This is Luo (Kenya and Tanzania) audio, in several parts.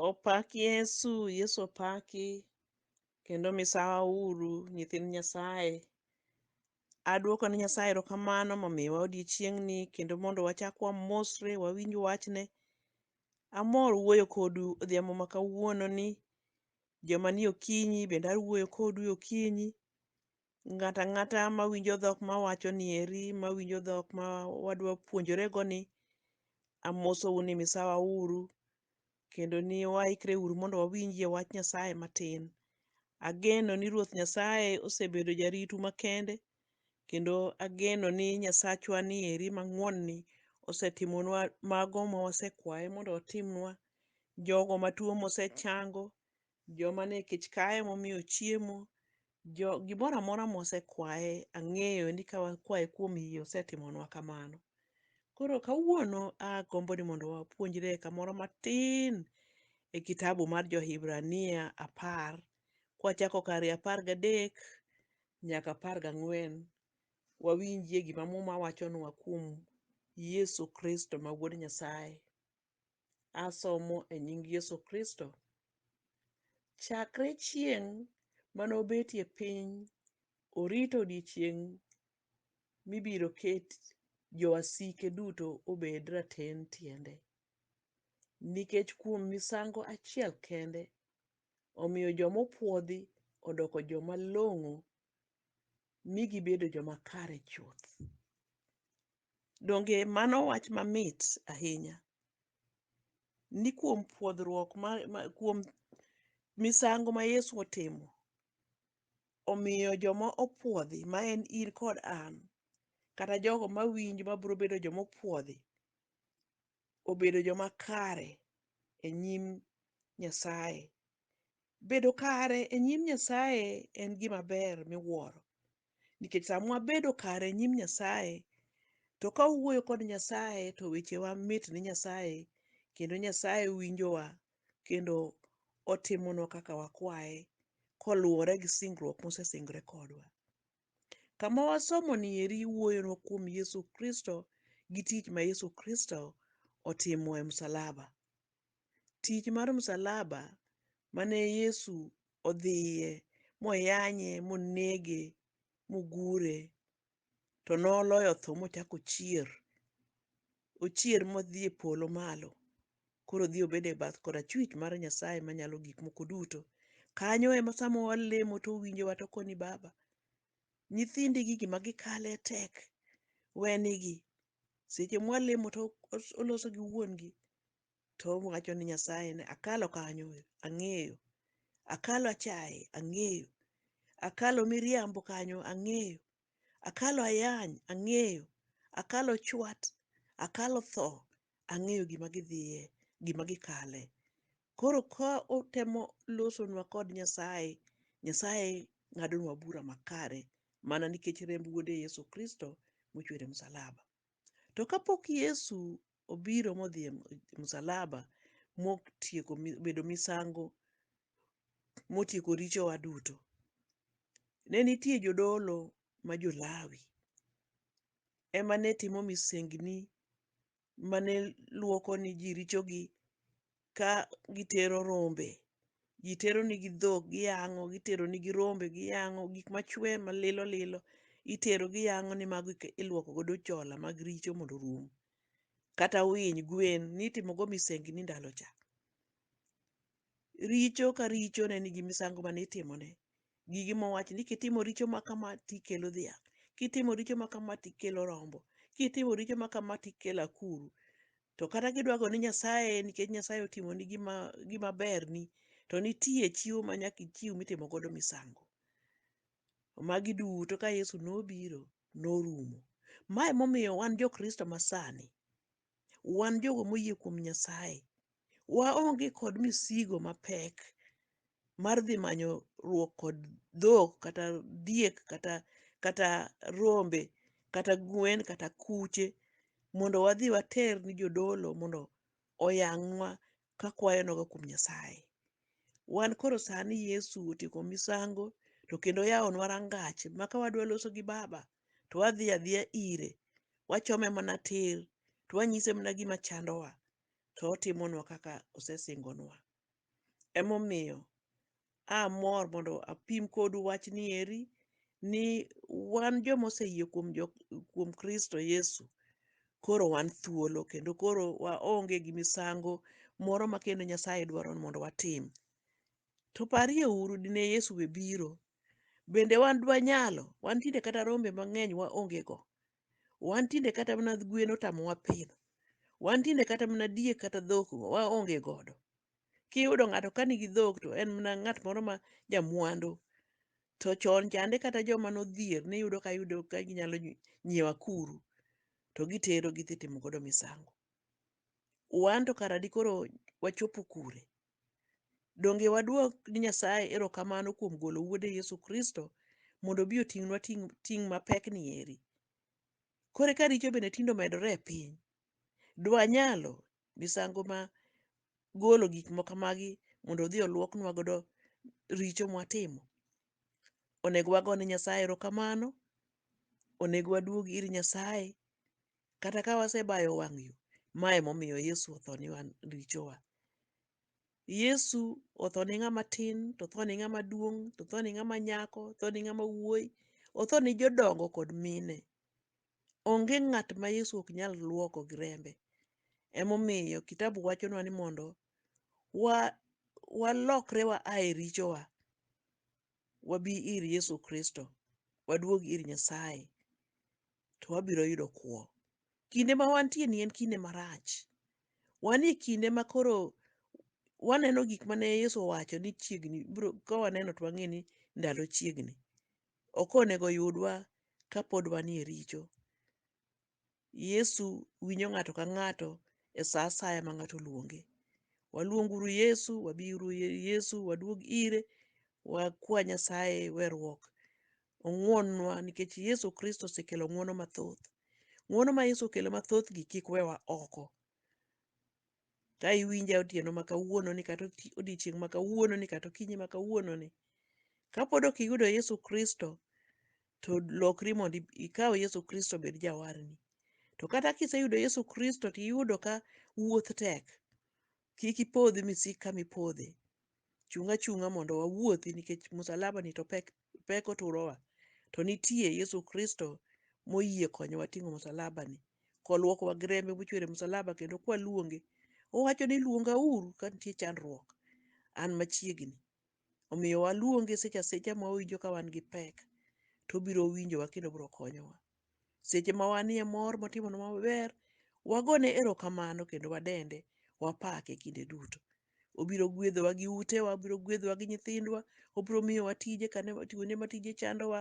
Opak Yesu, Yesu opaki kendo misawa uru nyithind Nyasaye. Aduoko ne Nyasaye erokamano momiyowa odiechieng'ni kendo mondo wachak wamosre wawinj wachne. Amor wuoyo kodu odhiambo ma kawuononi. Joma ni okinyi bende awuoyo kodu e okinyi. ng'ato ang'ata mawinjo dhok mawachoni eri, mawinjo dhok ma wadwa puonjoregoni, amosou ni misawa uru kendo ni waikre uru mondo wawinjie wach Nyasaye matin. Ageno ni Ruoth Nyasaye osebedo jaritu makende kendo ageno ni Nyasachwa ni eri mang'won-ni osetimonwa mago ma wasekwaye mondo otimnwa. Jogo matuo mosechango, Joma ne kech kaye momiyo chiemo, jo gimoro amora mosekwaye ang'eyo ni ka wakwaye kuom yie osetimonwa kamano. Koro kawuono agombo ni mondo wapuonjre kamoro matin e kitabu mar Jo-Hibrania apar kwachako kar e apar gadek nyaka apar gang'wen wawinjie gima Muma wachonwa kuom Yesu Kristo ma Wuod Nyasaye. Asomo e nying Yesu Kristo. Chakre chieng' mane obetie piny, orito odiechieng' mibiro ket jowasike duto obed raten tiende. Nikech kuom misango achiel kende, omiyo joma opwodhi odoko joma long'o mi gibedo joma kare chuth. Donge mano wach mamit ahinya ni kuom pwodhruok ma, ma kuom misango ma Yesu otimo omiyo joma opwodhi ma en in kod an kata jogo ma winjo ma biro bedo joma opwodhi obedo joma kare e nyim Nyasaye Bedo kare e nyim Nyasaye en gima ber miwuoro, nikech sama wabedo kare e nyim Nyasaye, to ka wawuoyo kod Nyasaye to wechewa mit ne Nyasaye, kendo Nyasaye winjowa kendo otimonwa kaka wakwaye koluwore gi singruok mosesingore kodwa. Kama wasomoni eri wuoyonwa kuom Yesu Kristo gi tich ma Yesu Kristo otimo e msalaba. tich mar msalaba mane Yesu odhiye moyanye monege mogure to noloyo tho mochako ochier ochier modhi e polo malo koro odhi obedo e bath korachwich mar Nyasaye manyalo gik moko duto kanyo ema sama walemo to owinjowa to koni baba nyithindi gi gima gikale tek wenigi seche mwalemo to os- oloso gi wuon gi to owacho ni Nyasaye ni akalo kanyo ang'eyo, akalo achaye ang'eyo, akalo miriambo kanyo ang'eyo, akalo ayany ang'eyo, akalo chwat, akalo tho ang'eyo gima gidhiye, gima gikale. Koro ka otemo losonwa kod Nyasaye, Nyasaye ng'adonwa bura makare mana nikech remb wuode Yesu Kristo mochwer e msalaba. To kapok Yesu obiro modhi e msalaba motieko mi- bedo misango motieko richowa duto, ne nitie jodolo ma jo-Lawi ema ne timo misengni mane luoko ni ji richogi ka gitero rombe ji tero nigi dhok giyang'o gitero nigi rombe giyang'o gik machwe malilo lilo itero giyang'o ni mago ike- iluoko godo chola mag richo mondo orum kata winy gwen nitimo go misengni ndalo cha richo ka richo ne nigi misango mane itimone gigi mowach ni kitimo richo ma kama tikelo dhiang', kitimo richo ma kama tikelo rombo, kitimo richo ma kama tikelo akuru. To kata kidwa go ni Nyasaye nikech Nyasaye otimoni gima gima berni, to nitie chiwo ma nyaka ichiw mitimo godo misango. Magi duto ka Yesu nobiro, norumo. Ma emomiyo wan jo Kristo ma sani, wan jogo moyie kuom Nyasaye waonge kod misigo mapek mar dhi manyo ruok kod dhok kata diek kata kata rombe kata gwen kata kuche mondo wadhi water ni jodolo mondo oyangnwa ka kwayo nogo kuom Nyasaye. Wan koro sani Yesu otieko misango to kendo oyawonwa rangach ma ka wadwa loso gi Baba to wadhi adhiya ire, wachome mana tir to wanyise mana gima chandowa to otimonwa kaka osesingonwa. Emomiyo amor mondo apim kodu wachni eri ni wan joma oseyie kuom, jo, kuom Kristo Yesu koro wan thuolo kendo koro waonge gi misango moro ma kendo Nyasaye dwaro ni mondo watim. To parie uru dine Yesu be biro, bende wan dwanyalo? Wan tinde kata rombe mang'eny waonge go. Wan tinde kata mana gwen otamowa pidho. Wan tinde kata mana diek kata dhok waonge godo. Kiyudo ng'ato ka nigi dhok to en mana ng'at moro ma jamwandu. To chon chande kata joma nodhier niyudo ka yudo ka ginyalo nyi- nyiewo akuru to gitero gidhi timo godo misango. Wan to kara dikoro wachopo kure? Donge waduok ni Nyasaye erokamano kuom golo wuode Yesu Kristo mondo obi oting'nwa ting' ting' mapek ni eri? Koro ka richo bende tindo medore e piny, dwanyalo misango ma golo gik moko kamagi mondo odhi oluoknwa godo richo mwatimo. Onego wagone Nyasaye erokamano, onego waduog ir Nyasaye kata ka wasebayo wang' yo. Ma emomiyo Yesu otho ni wan richowa. Yesu otho ne ng'ama tin, to otho ne ng'ama duong', to otho ne ng'ama nyako, otho ne ng'ama wuoyi, otho ne jodongo kod mine. Onge ng'at ma Yesu ok nyal luoko gi rembe. Emomiyo kitabu wachonwa ni mondo wa walokre wa a e richowa wabi ir Yesu Kristo, waduog ir Nyasaye to wabiro yudo kwo. Kinde ma wantie ni en kinde marach. Wan e kinde ma koro waneno gik mane Yesu owacho ni chiegni biro ka waneno to wang'e ni ndalo chiegni. ok onego yudwa ka pod wanie richo. Yesu winjo ng'ato ka ng'ato e sa asaya ma ng'ato oluonge. Waluong uru Yesu, wabi uru Yesu, waduog ire, wakwa Nyasaye werruok. Ong'wonnwa nikech Yesu Kristo osekelo ng'wono mathoth. Ng'wono ma Yesu okelo mathothgi kik wewa oko. Ka iwinja otieno ma kawuononi kata oti- odiechieng' ma kawuononi kata okinyi ma kawuononi, kapod ok iyudo Yesu Kristo, to lokri mondo ib- ikaw Yesu Kristo obed jawarni. To kata kiseyudo Yesu Kristo to iyudo ka wuoth tek, kik ipodhi misik kama ipodhe. chung' achung'a mondo wawuothi nikech musalaba ni to pek pek oturowa to nitie Yesu Kristo moyie konyowa ting'o musalaba ni koluokowa gi rembe mochwere musalaba kendo kwaluonge owacho ni luonga uru ka nitie chandruok an machiegni omiyo waluonge seche asecha ma owinjo ka wan gi pek to obiro winjowa kendo obiro konyowa Seche ma wanie mor motimonwa maber, wagone erokamano kendo wadende, wapake kinde duto. Obiro gwedhowa gi utewa, obiro gwedhowa gi nyithindwa, obiro miyowa tije kane kuonde ma tije chandowa,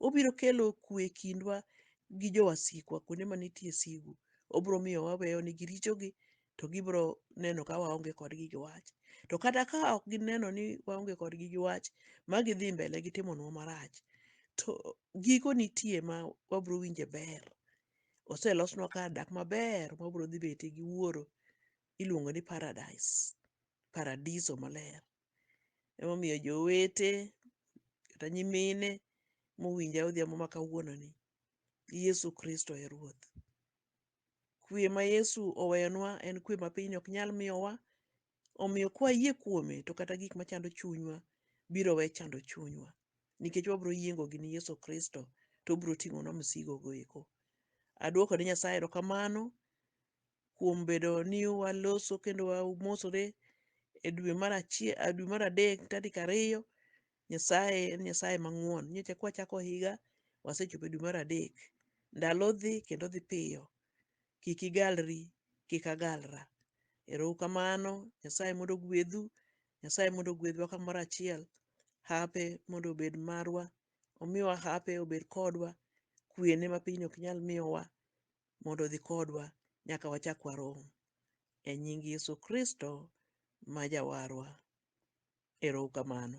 obiro kelo kwe e kindwa gi jowasikwa kuonde ma nitie sigu. Obiro miyo waweyo nigi richogi to gibiro neno ka waonge kodgi gi wach. To kata ka ok gineno ni waonge kodgi gi wach ma gidhi mbele gi timonwa marach, to giko nitie ma wabiro winje ber. Oselosnwa kar dak maber ma wabiro dhi bete gi Wuoro, iluongo ni paradise, paradiso maler. Emomiyo jowete kata nyimine mowinja odhiambo ma kawuononi, Yesu Kristo e Ruoth. Kuwe ma Yesu oweyonwa en kuwe ma piny ok nyal miyowa. Omiyo kwayie kuome to kata gik machando chunywa biro we chando chunywa nikech wabiro yiengo gini Yesu Kristo to obiro ting'onwa msigo go eko. Aduoko ne Nyasaye erokamano kuom bedo ni waloso kendo wamosore e dwe mar achiel, dwe mar adek tarik ariyo Nyasaye en Nyasaye mang'won. Nyocha kwa chako higa, wasechopo e dwe mar adek. Ndalo dhi kendo dhi piyo. Kik igalri, kik agalra. Erou kamano. Nyasaye mondo ogwedhu. Nyasaye mondo ogwedhwa kamoro achiel. Hape mondo obed marwa. Omiwa hape obed kodwa. Kwene ma pinyni ok nyal miyowa mondo odhi kodwa nyaka wachak warom. E nying Yesu Kristo ma jawarwa. Ero uru kamano.